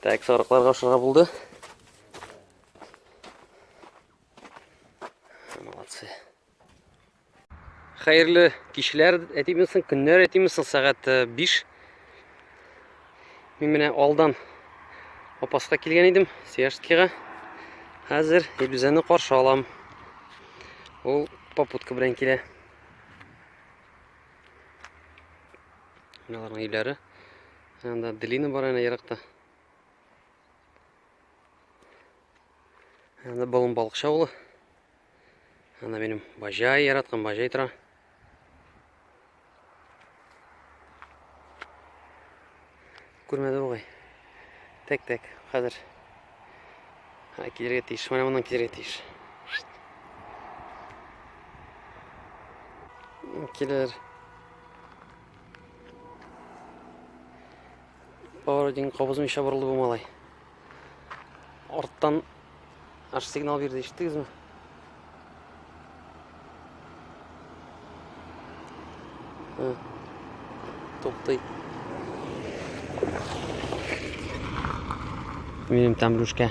так сарыкларга ашырга булды Молодцы. Хәерле кичләр әйтимесең, көннәр әйтимесең, сәгать 5. Э, Мин менә алдан Апаска килгән идем, Сияжскига. Хәзер Илүзәне каршы алам. Ул попутка белән килә. Мыналарның өйләре. Анда Делина бар әнә еракта. Анда балым балыкчы авылы. Анда минем бажай яраткан бажай тора. Күрмәде бугай. Тәк тәк, хәзер. Ха, килергә тиеш, менә моннан килергә тиеш. Килер. Поворотник кабызмыйча борылды бу малай. Арттан аш сигнал бирде, ишеттегезме? Туктый. Минем там блюшка.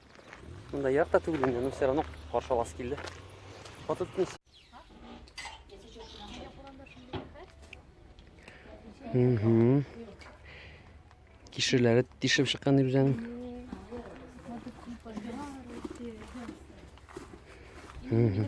Монда як та түгел инде, но все равно каршы аласы килде. Фото тотмыйсың. Угу. Кишерләре тишеп чыккан дип үзең. Угу.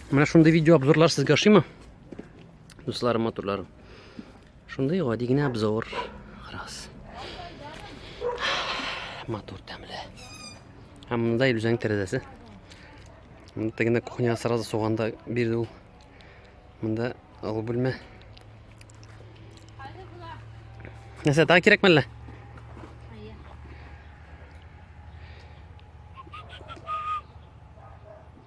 Менә шундый видео обзорлар сезгә ошыймы? Дусларым, матурларым. Шундый гади генә обзор. Раз. Матур тәмле. Һәм монда Илүзәнең тәрәзәсе. Монда тегенә кухня сразу суганда бирде ул. Монда алу бүлмә. Нәрсә, тағы кирәкме әллә?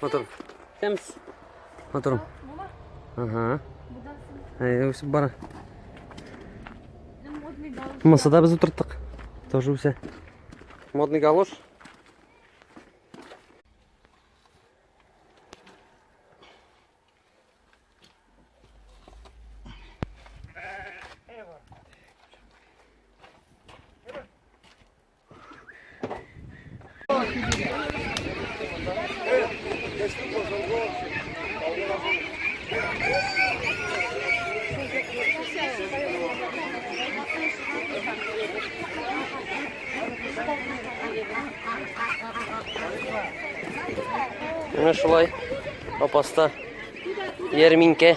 Матур. Кемс? Матур. Ага. Әйе, үсеп бара. Мысы да без утырттык. Тоже үсә. Модный галош. Менә шулай апаста ярминкә.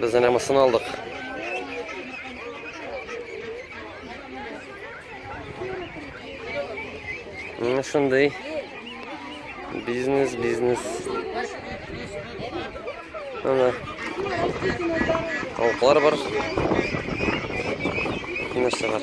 Без әнә мысын алдык. Менә шундый бизнес, бизнес. Ана тавыклар бар. Нәрсә бар?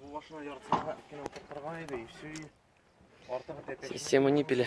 Бу башына яртысына кенә утыртырга иде, и все, и артыгы тәпәш. Система не пиле.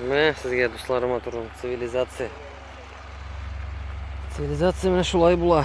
Менә сезгә дусларыма турын цивилизация. Цивилизация менә шулай була.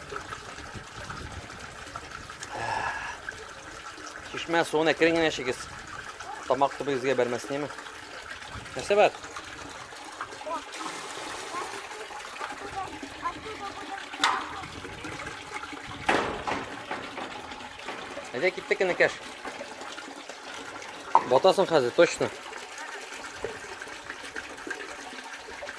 Чишмә суын әкрен генә эчегез. Тамак төбегезгә бәрмәсенеме? Нәрсә бар? Әйдә киттек инекәш. Батасың хәзер, точно.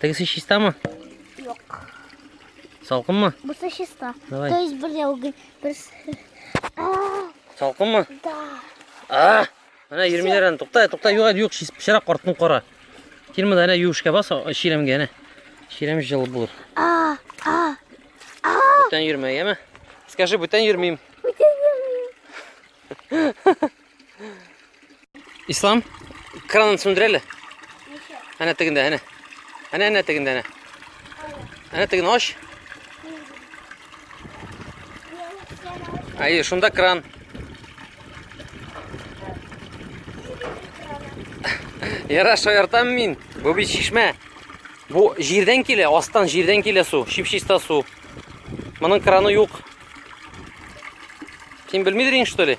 Тегесе чистамы? Юк. Салкынмы? Бусы чиста. Давай. То есть бер яугы, бер... Салкынмы? Да. А! Ана йөрмиләр аны. Тукта, тукта, юк, юк, пычрак картын кара. Килмә дә ана юшка бас, ширемгә ана. Ширем жыл булыр. А, а. А! Бүтән йөрмә, яме? Скажи, бүтән йөрмим. Бүтән йөрмим. Ислам, кранын сүндерәле. Әнә тегендә, әнә. Әнә әнә тегендә, әнә. Әнә теген аш. Әйе, шунда кран. Яра шаяртам мин. Бу бит шишмә. Бу җирдән килә, астан җирдән килә су, чип-чиста су. Моның краны юк. Син белмидер инде, что ли?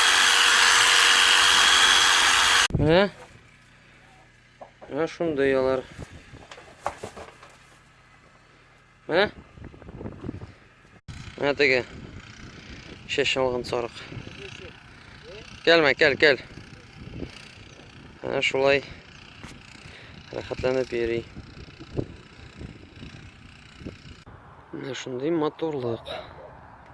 Ә? Ә шундый алар. Ә? Ә теге. Шеш алган сарык. Кәлмә, кәл, кәл. Ә шулай. Рәхәтләнеп йөри. Менә шундый матурлык.